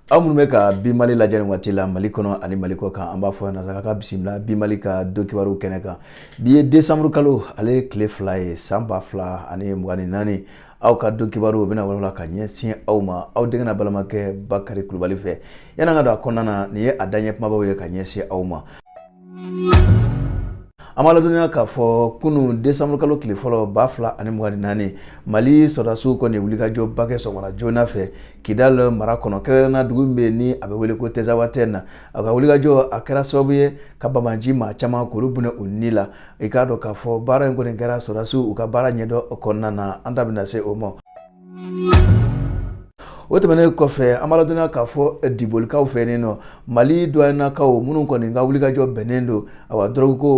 aw minnu bɛ ka bi mali lajɛ nin waati la mali kɔnɔ ani mali kɔ kan an b'aw fo nasaka k'aw bisimila bi mali ka don kibaruw kɛnɛ kan bi ye desanburu kalo ale ye tile fila ye san ba fila ani mugan ni naani aw ka don kibaru o bɛna walawala ka ɲɛsin aw ma aw denkɛ n'aw balimakɛ bakari kulubali fɛ yan'an ka don a kɔnɔna na nin ye a daɲɛ kumabaw ye ka ɲɛsin aw ma an b'a ladɔnniya k'a fɔ kunun desanburu kalo tile fɔlɔ ba fila ani mugan ni naani mali sɔrɔdasiw kɔni wulikajɔ ba kɛ sɔgɔmada joona fɛ kidal mara kɔnɔ kɛrɛnkɛrɛnna dugu min bɛ yen ni a bɛ wele ko tɛzawatɛn na a ka wulikajɔ a kɛra sababu ye ka banbaanci maa caman k'olu bɔnɛ u ni la i k'a dɔn k'a fɔ baara in kɔni kɛra sɔrɔdasiw u ka baara ɲɛdɔn kɔnɔna na an da bɛna se o ma o tɛmɛnen kɔfɛ an b'a ladɔnniya k'a fɔ eh, dibolikaw fɛ nin nɔ mali duwanikaw minnu kɔni ka wulikajɔ bɛnnen don awa dɔrɔgu ko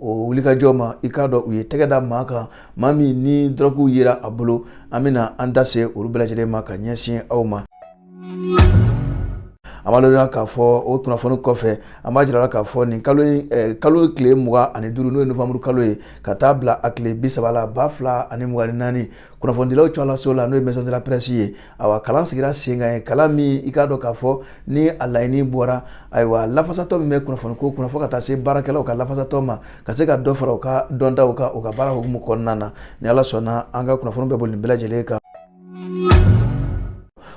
o wulikajɔ ma i k'a dɔn u ye tɛgɛ da maa kan maa min ni dɔrɔguw yera a bolo an bɛna an da se olu bɛɛ lajɛlen ma ka ɲɛsin aw ma an b'a ladɔnniya k'a fɔ o kunnafoni kɔfɛ an b'a jira k'a fɔ nin kalo in eh, kalo tile mugan ani duuru n'o ye novanburu kalo ye ka taa bila a tile bi saba la ba fila ani mugan ni naani kunnafonidilaw cɔlaso la n'o ye maison de la presse ye awa kalan sigira sen kan yen kalan min i k'a dɔn k'a fɔ ni a laɲini bɔra ayiwa lafasatɔn min bɛ kunnafoniko kunna fo ka taa se baarakɛlaw ka lafasatɔn ma ka se ka dɔ fara u ka dɔntaw kan u ka baara hukumu kɔnɔna na ni ala sɔnna an ka kunnafoni bɛ boli nin bɛɛ lajɛlen kan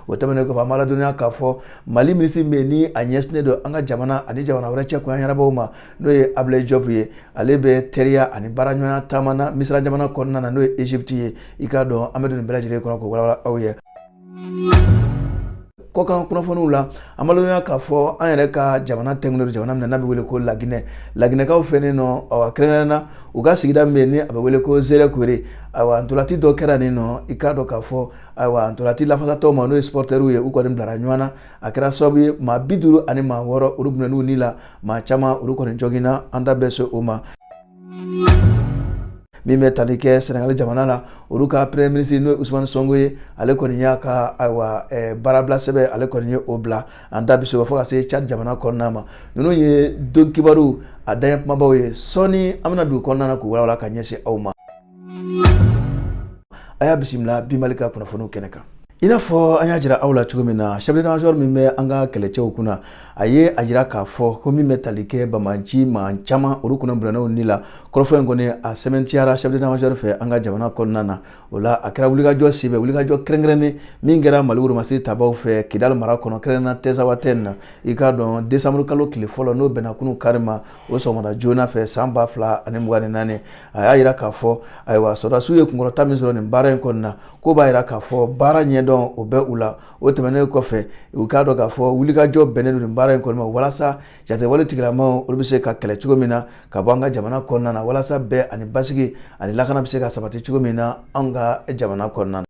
o tɛmɛnen kɔfɛ an b'a ladɔnniya k'a fɔ mali minisiri bɛ yen ni a ɲɛsinnen don an ka jamana ani jamana wɛrɛ cɛ koɲɛ ɲɛnabɔw ma n'o ye abulayi jɔpu ye ale bɛ teriya ani baaraɲɔgɔnya taama na misira jamana kɔnɔna na n'o ye egypte ye i k'a dɔn an bɛ don nin bɛɛ lajɛlen kɔnɔ k'o walawala aw ye kɔkan kunnafoniw la an b'a ladɔnniya k'a fɔ an yɛrɛ ka jamana tɛŋɛnen don jamana min na n'a bɛ wele ko laginɛ laginɛkaw fɛ nin nɔ awa kɛrɛnkɛrɛn na u ka sigida min bɛ yen ni a bɛ wele ko zerekore awa ntolaci dɔ kɛra nin nɔ i k'a dɔn k'a fɔ ayiwa ntolaci lafasatɔw ma n'o ye supɔrtɛriw ye u kɔni bilara ɲɔgɔn na a kɛra sababu ye maa bi duuru ani maa wɔɔrɔ olu bɔnɛn'u ni la maa caman olu kɔni joginna an da bɛ se o ma min bɛ tali kɛ sɛnɛgali jamana na olu ka premier ministre n'o ye usumani sonko ye ale kɔni y'a ka ayiwa eh, baarabila sɛbɛn ale kɔni ye o bila an da bɛ se o ma fo ka se cad jamana kɔnɔna ma ninnu ye don kibaru a daɲɛ kumabaw ye sɔɔni an bɛna don u kɔnɔna na k'u walawala ka ɲɛsin aw ma a y'a bisimila bi mali ka kunnafoniw kɛnɛ kan i n'a fɔ an y'a jira aw la cogo min na chef d'état-major min bɛ an ka kɛlɛcɛw kunna a ye a jira k'a fɔ ko min bɛ tali kɛ banbaanci maa caman olu kɔni bɔnɛna u ni la kɔrɔfɔ in kɔni a sɛmɛntiyara chef d'état-major fɛ an ka jamana kɔnɔna na o la a kɛra wulikajɔ sen fɛ wulikajɔ kɛrɛnkɛrɛnnen min kɛra mali woromasiri tabaw fɛ kidali mara kɔnɔ kɛrɛnkɛrɛnna tɛzawatɛn na i k'a dɔn desanburu kalo tile fɔlɔ n'o bɛnna kunun kari ma o sɔgɔmada joona fɛ san ba fila ani mugan ni naani a y'a yira k'a fɔ ayiwa sɔrɔdasiw ye kunkɔrɔta min sɔrɔ nin baara in kɔni na k'o b'a yira k'a fɔ baara ɲɛdɔn o bɛ u la o tɛmɛnen kɔfɛ u k'a dɔn k'a fɔ wulikajɔ bɛnnen don nin baara in kɔni ma walasa jatigɛwale tigilamaw olu bɛ se ka kɛlɛ cogo min na ka bɔ an ka jamana kɔnɔna na walasa bɛn ani basigi ani lakana bɛ se ka sabati cogo min na an ka jamana kɔnɔna na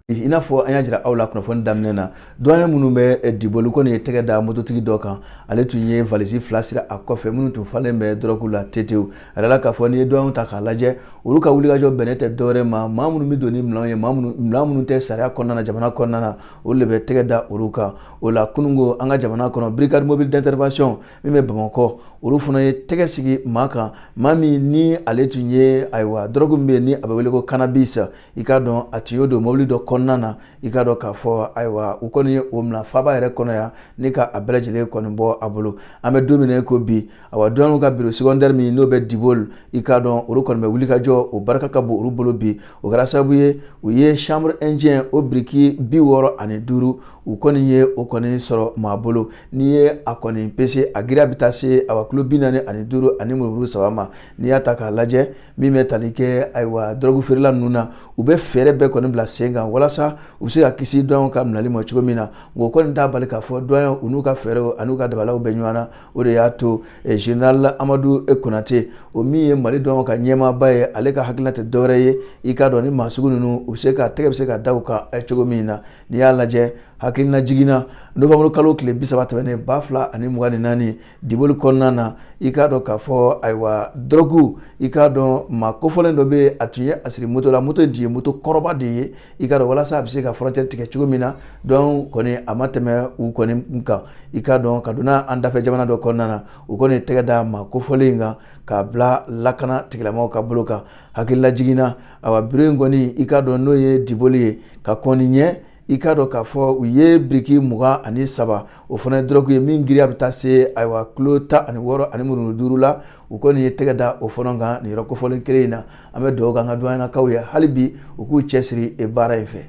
i n'a fɔ an y'a jira aw la kunnafoni daminɛ na duwanye minnu bɛ eh, diboli kɔni ye tɛgɛ da mototigi dɔ kan ale tun ye valisi fila siri a kɔfɛ minnu tun falen bɛ dɔrɔgu la tetew a yirala k'a fɔ n'i ye duwanyew ta k'a lajɛ olu ka wulikajɔ bɛnnen tɛ dɔwɛrɛ ma maa minnu bɛ don ni minɛnw ye minɛn minnu tɛ sariya kɔnɔna na jamana kɔnɔna na olu de bɛ tɛgɛ da olu kan o la kununko an ka jamana kɔnɔ brigade mobile d'intervention min bɛ bamakɔ olu fana ye tɛgɛ sigi maa kan maa min ni ale tun ye ayiwa dɔrɔgu min bɛ yen ni a bɛ wele ko cannabis i k'a dɔn a tun y'o don mobili dɔ kɔnɔna na i k'a dɔn k'a fɔ ayiwa u kɔni ye o minɛ faaba yɛrɛ kɔnɔ yan ni ka a bɛɛ lajɛlen kɔni bɔ a bolo an bɛ don min na ko bi ayiwa duwani ka biro secondaire min n'o bɛ diboli i k'a dɔn olu kɔni bɛ wulikajɔ o barika ka bon olu bolo bi o kɛra sababu ye u ye chanvre indien o biriki bi wɔɔrɔ ani duuru u kɔni ye o kɔni sɔrɔ maa bolo n'i ye a kɔni pese a giriya bɛ taa se awa kilo bi naani ani duuru ani murumuru saba ma n'i y'a ta k'a lajɛ min bɛ tali kɛ ayiwa dɔrɔgu feerela ninnu na u bɛ fɛɛrɛ bɛɛ kɔni bila sen kan walasa u bɛ se ka kisi duwani ka minɛli ma cogo min na nka o kɔni t'a bali k'a fɔ duwanyew n'u ka fɛɛrɛw an'u ka dabaliw bɛ ɲɔgɔn na o de y'a to eh, general amadu konate o min ye mali duwani ka ɲɛmaaba ye ale ka hakilina tɛ dɔwɛrɛ ye i k'a dɔn ni maa sugu ninnu u bɛ se ka tɛgɛ bɛ se ka da u kan eh, cogo min na n'i y'a lajɛ hakililajigin na nowanburu kalo tile bi saba tɛmɛnen ba fila ani mugan ni naani diboli kɔnɔna na i k'a dɔn k'a fɔ ayiwa dɔrɔgu i k'a dɔn maa kofɔlen dɔ bɛ a tun ye a siri moto la moto in tun ye moto kɔrɔba de ye i k'a dɔn walasa a bɛ se ka frontière tigɛ cogo min na duwani kɔni a ma tɛmɛ u kɔni kan i k'a dɔn ka donna an dafɛ jamana dɔ kɔnɔna na u kɔni tɛgɛ da maa kofɔlen in kan k'a bila lakana tigilamaw ka bolo kan hakililajigin na awa biro in kɔni i k'a dɔn n'o ye diboli ye ka kɔni ɲɛ i k'a dɔn k'a fɔ u ye biriki mugan ani saba o fana ye dɔrɔgu ye min giriya bɛ taa se ayiwa kilo tan ani wɔɔrɔ ani murumuru duuru la u kɔni ye tɛgɛ da o fana kan nin yɔrɔ kofɔlen kelen in na an bɛ dugawu k'an ka duwanyanakaw ye hali bi u k'u cɛsiri baara in fɛ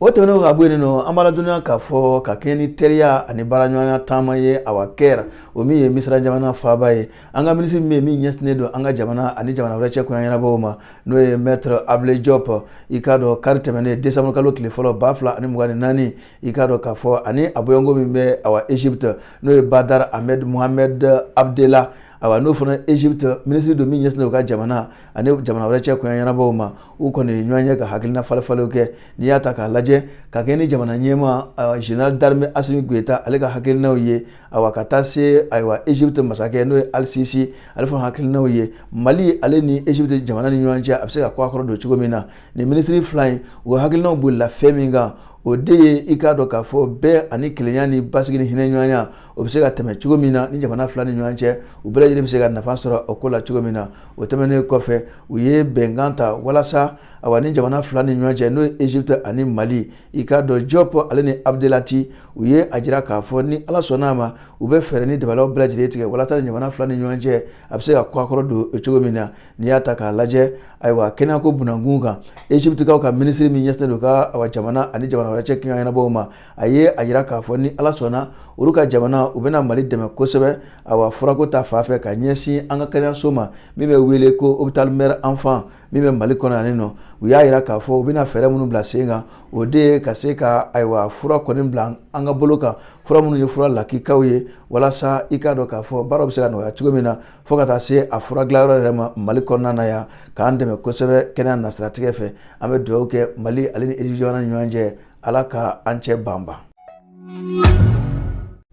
o tɛmɛnen ka bɔ yen nɔ an b'a ladɔnniya k'a fɔ ka kɛɲɛ ni teriya ani baaraɲɔgɔnya taama ye awa caire o min ye misira jamana faaba ye an ka minisiri min bɛ yen min ɲɛsinnen don an ka jamana ani jamana wɛrɛ cɛ koɲɛ ɲɛnabɔw ma n'o ye mɛtɛrɛ abulayi jɔp i k'a dɔn kari tɛmɛnen desanburu kalo tile fɔlɔ ba fila ani mugan ni naani i k'a dɔn k'a fɔ ani a bɔɲɔgɔnko min bɛ awa egypte n'o ye badr ahmed mohamed abdela ayiwa n'o fana egypte minisiri don min ɲɛsinnen u ka jamana ani jamana wɛrɛ cɛ koɲɛ ɲɛnabɔw ma u kɔni ye ɲɔgɔn ye ka hakilina falenfalenw kɛ n'i y'a ta k'a lajɛ ka kɛ ni jamana ɲɛmaa général d'armée asimi goyita ale ka hakilinaw ye ayiwa ka taa se ayiwa egypte masakɛ n'o ye al-sissi ale fana hakilinaw ye mali ale ni egypte jamana ni ɲɔgɔn cɛ a bɛ se ka kɔ a kɔrɔ don cogo min na nin minisiri fila in u hakilinaw bolila fɛn min kan o de ye i k'a dɔn k'a fɔ bɛn ani kelenya ni basigi ni hinɛ ɲɔgɔnya o bɛ se ka tɛmɛ cogo min na ni jamana fila ni ɲɔgɔn cɛ u bɛɛ lajɛlen bɛ se ka nafa sɔrɔ o ko la cogo min na o tɛmɛnen kɔfɛ u ye bɛnkan ta walasa awa nin jamana fila ni ɲɔgɔn cɛ n'o ye egypte ani mali i k'a dɔn diop ale ni abdelatty u ye a jira k'a fɔ ni ala sɔnna a ma u bɛ fɛɛrɛ ni dabalaw bɛɛ lajɛlen tigɛ walasa jamana fila ni ɲɔgɔn cɛ a bɛ se ka kɔkɔrɔ don cogo min na n'i y'a ta k'a lajɛ ayiwa kɛnɛyako kunkan egyptekaw ka minisiri min ɲɛsinnen don ka jamana ani jamana wɛrɛ cɛ koɲɛ ɲɛnabɔw ma a ye a jira k'a fɔ ni ala sɔnna olu ka jamana u bɛna mali dɛmɛ kosɛbɛ awa furako ta fan fɛ ka ɲɛsin an ka kɛnɛyaso ma min bɛ wele ko hôpital mère enfant min bɛ mali kɔnɔ yan nɔ u y'a jira k'a fɔ u bɛna fɛɛrɛ minnu bila sen kan o de ye ka se ka ayiwa fura kɔni bila an ka bolo kan fura minnu ye fura lakikaw ye walasa i k'a dɔn k'a fɔ baaraw bɛ se ka nɔgɔya cogo min na fo ka taa se a fura dilanyɔrɔ yɛrɛ ma mali kɔnɔna na yan k'an dɛmɛ kosɛbɛ kɛnɛya nasiratigɛ fɛ an bɛ dugawu kɛ mali ale ni egypte jamana ni ɲɔgɔn cɛ ala ka an cɛ banban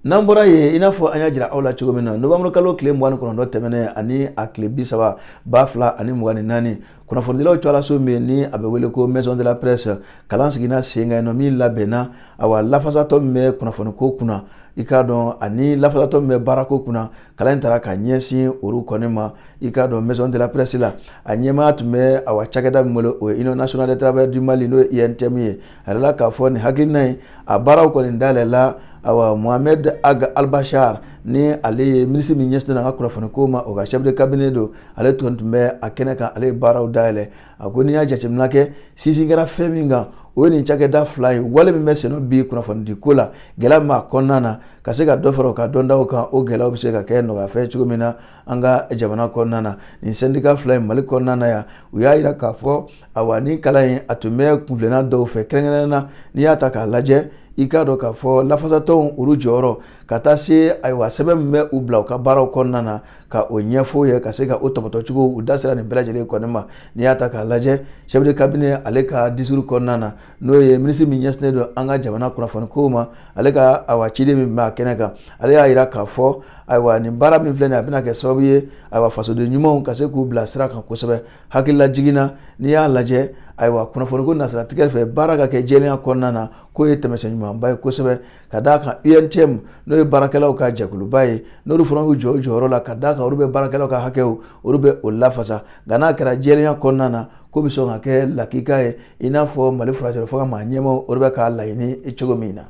n'an bɔra yen i n'a fɔ an y'a jira aw la cogo min na novembre kalo tile mugan ni kɔnɔntɔn tɛmɛnen ani a tile bi saba ba fila ani mugan ni naani kunnafonidilaw cɔlaso min ni a bɛ wele ko maison de la presse kalan sigina sen kan yen nɔ min labɛnna awa lafasatɔn min bɛ kunnafoniko kunna i k'a dɔn ani lafasatɔn min bɛ baarako kunna kalan in taara ka ɲɛsin olu kɔni ma i k'a dɔn maison de la presse la a ɲɛmaa tun bɛ awa cakɛda min bolo o ye union nationale des travailleurs du mali n'o ye untm ye a jirala k'a fɔ nin hakilina in a baaraw kɔni dayɛlɛla awa mohamed ag albachar ni ale ye minisiri min ɲɛsinnen don an ka kunnafoniko ma o ka chef de cabinet don ale tun tun bɛ a kɛnɛ kan ale ye baaraw dayɛlɛ a ko n'i y'a jateminɛ kɛ sinsin kɛra fɛn min kan o ye nin cakɛda fila ye wale min bɛ senna bi kunnafonidiko la gɛlɛya min b'a kɔnɔna na ka se ka dɔ fara u ka dɔntaw kan o gɛlɛyaw bɛ se ka kɛ nɔgɔyafɛn cogo min na an ka jamana kɔnɔna na nin sɛndika fila in mali kɔnɔna na yan u y'a jira k'a fɔ awa nin kalan in a tun bɛ kunna dɔw fɛ kɛrɛnkɛrɛnnen na n'i y'a ta k'a lajɛ i k'a dɔn k'a fɔ lafasatɔnw olu jɔyɔrɔ ka taa se ayiwa sɛbɛn min bɛ u bila u ka baaraw kɔnɔna na ka o ɲɛfɔ ye ka se ka o tɔpɔtɔcogo u da sera nin bɛɛ lajɛlen kɔni ma n'i y'a ta k'a lajɛ chef de cabinet ale ka discours kɔnɔna na n'o ye minisiri min ɲɛsinnen don an ka jamana kunnafoniko ma ale ka ayiwa ciden min bɛ a kɛnɛ kan ale y'a jira k'a fɔ ayiwa nin baara min filɛ a bɛna kɛ sababu ye ayiwa fasoden ɲumanw ka se k'u bila sira kan kosɛbɛ hakililajigin na n'i y'a lajɛ ayiwa kunnafoniko nasiratigɛ fɛ baara ka kɛ jɛya kɔnɔna na k'o ye taamasiyɛn ɲumanba ye kosɛbɛ ka d'a kan UNTM n'o ye baarakɛlaw ka jɛkuluba ye n'olu fana y'u jɔ u jɔyɔrɔ la ka d'a kan olu bɛ baarakɛlaw ka hakɛw olu bɛ o lafasa nka n'a kɛra jɛlenya kɔnɔna na ko bɛ sɔn ka kɛ lakika ye i n'a fɔ Mali furancɛrɔ fanga maa ɲɛmaaw olu bɛ k'a laɲini cogo min na.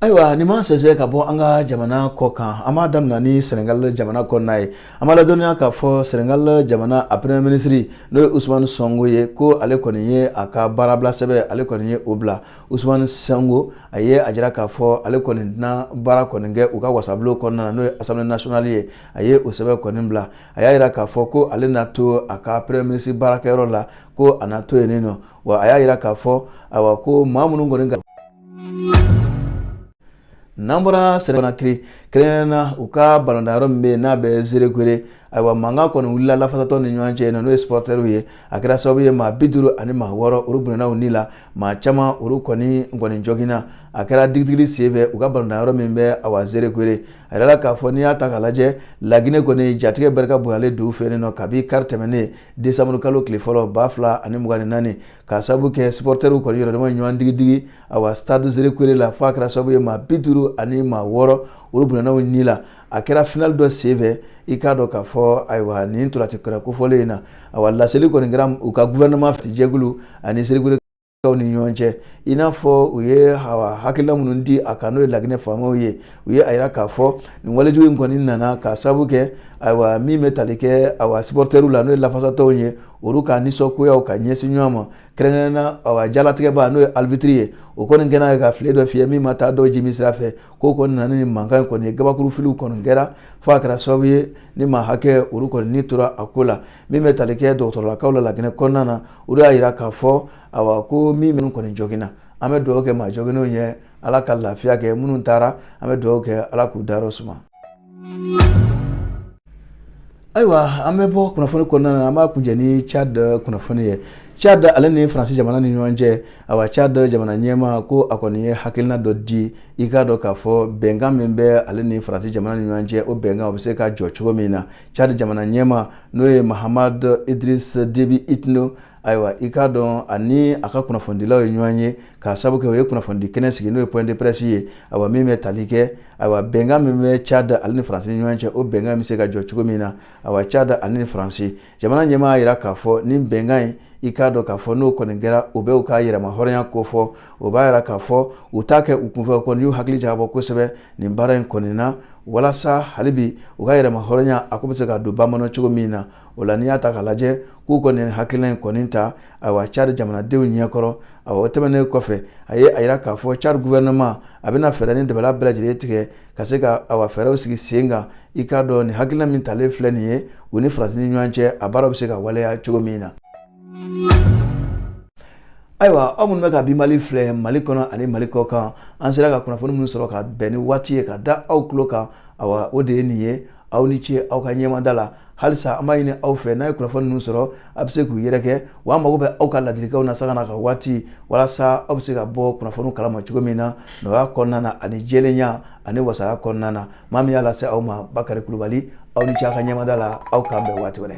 ayiwa nin ma sɛnsɛn ka bɔ an ka jamana kɔ kan an b'a daminɛ ni sɛnɛgali jamana kɔnɔna ye An b'a ladɔnniya k'a fɔ Senegal jamana a premier ministre n'o ye Ousmane Sonko ye ko ale kɔni ye a ka baarabila sɛbɛn ale kɔni ye o bila Ousmane Sonko a ye a jira k'a fɔ ale kɔni tɛna baara kɔni kɛ u ka wasabulon kɔnɔna na n'o ye Assemblée nationale ye a ye o sɛbɛn kɔni bila a y'a jira k'a fɔ ko ale na to a ka premier ministre baarakɛyɔrɔ la ko a na to yen nɔ wa a y'a jira k'a fɔ awa ko maa minnu kɔni n'an bɔra sɛnɛgali konakiri kɛrɛnkɛrɛn na u ka balontan yɔrɔ min bɛ yen n'a bɛ zerekore ayiwa mankan kɔni wulila lafasatɔw ni ɲɔgɔn cɛ n'o ye sipɔrɔtɛriw ye a kɛra sababu ye maa bi duuru ani maa wɔɔrɔ olu bɔnɛna u ni la maa caman olu kɔni jɔginna a kɛra digidigili senfɛ u ka balontan yɔrɔ min bɛ awa zerekore a yɛrɛ la k'a fɔ n'i y'a ta k'a lajɛ lagine kɔni jatigɛ barika bonyalen don u fɛ yen nɔ kabi kari tɛmɛnen desanburukalo tile fɔlɔ ba fila ani mugan ni naani k'a sababu kɛ sipɔrɔtɛriw kɔni yɛrɛdama ɲɔgɔn digidigi awa stade zerekore la fo a kɛra sababu ye maa bi duuru ani maa wɔɔrɔ olu bɔnɛna u ni la a kɛra finali dɔ senfɛ i k'a dɔn k'a fɔ ayiwa nin ntolaci kɛnɛ kofɔlen in na awa laseli kɔni kɛra u ka gouvernement jɛkulu ani zerekore kaw ni ɲɔgɔn cɛ i n'a fɔ u ye awa hakilina minnu di a kan n'o ye laginɛ faamaw ye u ye a yira k'a fɔ nin walejugu in kɔni nana k'a sababu kɛ ayiwa min bɛ tali kɛ awa sipɔrɔtɛriw la n'o ye lafasatɔw ye olu ka nisɔngoyaw ka ɲɛsin ɲɔgɔn ma kɛrɛnkɛrɛnna awa jalatigɛba n'o ye aribitiri ye o kɔni kɛlen ye ka file dɔ fiyɛ min ma taa dɔw jimi sira fɛ k'o kɔni nana ni mankan kɔni ye gabakuru filiw kɔni kɛra fo a kɛra sababu ye nin maa hakɛ olu kɔni ni tora a ko la min bɛ tali kɛ dɔgɔtɔrɔlakaw la laginɛ kɔnɔna na olu y'a yira k'a fɔ awa ko min minnu kɔni jɔginna an bɛ dugawu kɛ maa jɔginnenw ye ala ka lafiya kɛ minnu taara an bɛ dugawu kɛ ala k'u dayɔrɔ suma ayiwa an bɛ bɔ kunnafoni kɔnɔna na an b'a kuncɛ ni Tchad kunnafoni ye Tchad ale ni Faransi jamana ni ɲɔgɔn cɛ awa Tchad jamana ɲɛmaa ko a kɔni ye hakilina dɔ di i k'a dɔn k'a fɔ bɛnkan min bɛ ale ni Faransi jamana ni ɲɔgɔn cɛ o bɛnkan o bɛ se ka jɔ cogo min na Tchad jamana ɲɛmaa n'o ye Mahamat Idriss Déby Itno ayiwa i k'a dɔn ani a ka kunnafonidilaw ye ɲɔgɔn ye k'a sababu kɛ o ye kunnafonidi kɛnɛ sigi n'o ye point de presse ye ayiwa min bɛ tali kɛ ayiwa bɛnkan min bɛ cad ale ni faransi ni ɲɔgɔn cɛ o bɛnkan bɛ se ka jɔ cogo min na ayiwa cad ale ni faransi jamana ɲɛmaa y'a jira k'a fɔ nin bɛnkan in i k'a dɔn k'a fɔ n'o kɔni kɛra u b'u ka yɛrɛma hɔrɔnya ko fɔ o b'a jira k'a fɔ u t'a kɛ u kunfɛ kɔni y'u hakili jagabɔ kosɛbɛ nin baara in kɔni na walasa hali bi u ka yɛrɛma hɔrɔnya a ko bɛ se ka don ba la cogo min na o la n'i y'a ta k'a lajɛ k'u kɔni nin hakilina in kɔni ta ayiwa cadi jamanadenw ɲɛkɔrɔ awa o tɛmɛnen kɔfɛ a ye a yira k'a fɔ cadi guvɛrɛnɛma a bɛna fɛɛrɛ ni dabala bɛɛ lajɛlen tigɛ ka se ka awa fɛɛrɛw sigi sen kan i k'a dɔn nin hakilina min talen filɛ nin ye u ni faransi ni ɲɔgɔn cɛ a baaraw bɛ se ka waleya cogo min na ayiwa aw minnu bɛ ka bi mali filɛ mali kɔnɔ ani mali kɔ kan an sera ka kunnafoni minnu sɔrɔ ka bɛn ni waati ye ka da aw tulo kan awa o de ye nin ye aw ni ce aw ka ɲɛmada la halisa an b'a ɲini aw fɛ n'a ye kunnafoni ninnu sɔrɔ a bɛ se k'u yɛrɛkɛ wa an mago bɛ aw ka ladilikanw na sanga na ka waati walasa aw bɛ se ka bɔ kunnafoni kalama cogo min na nɔgɔya kɔnɔna na ani jɛlenya ani wasaya kɔnɔna na maa min y'a lase aw ma bakari kulubali aw ni ce aw ka ɲɛmada la aw k'an bɛn waati wɛrɛ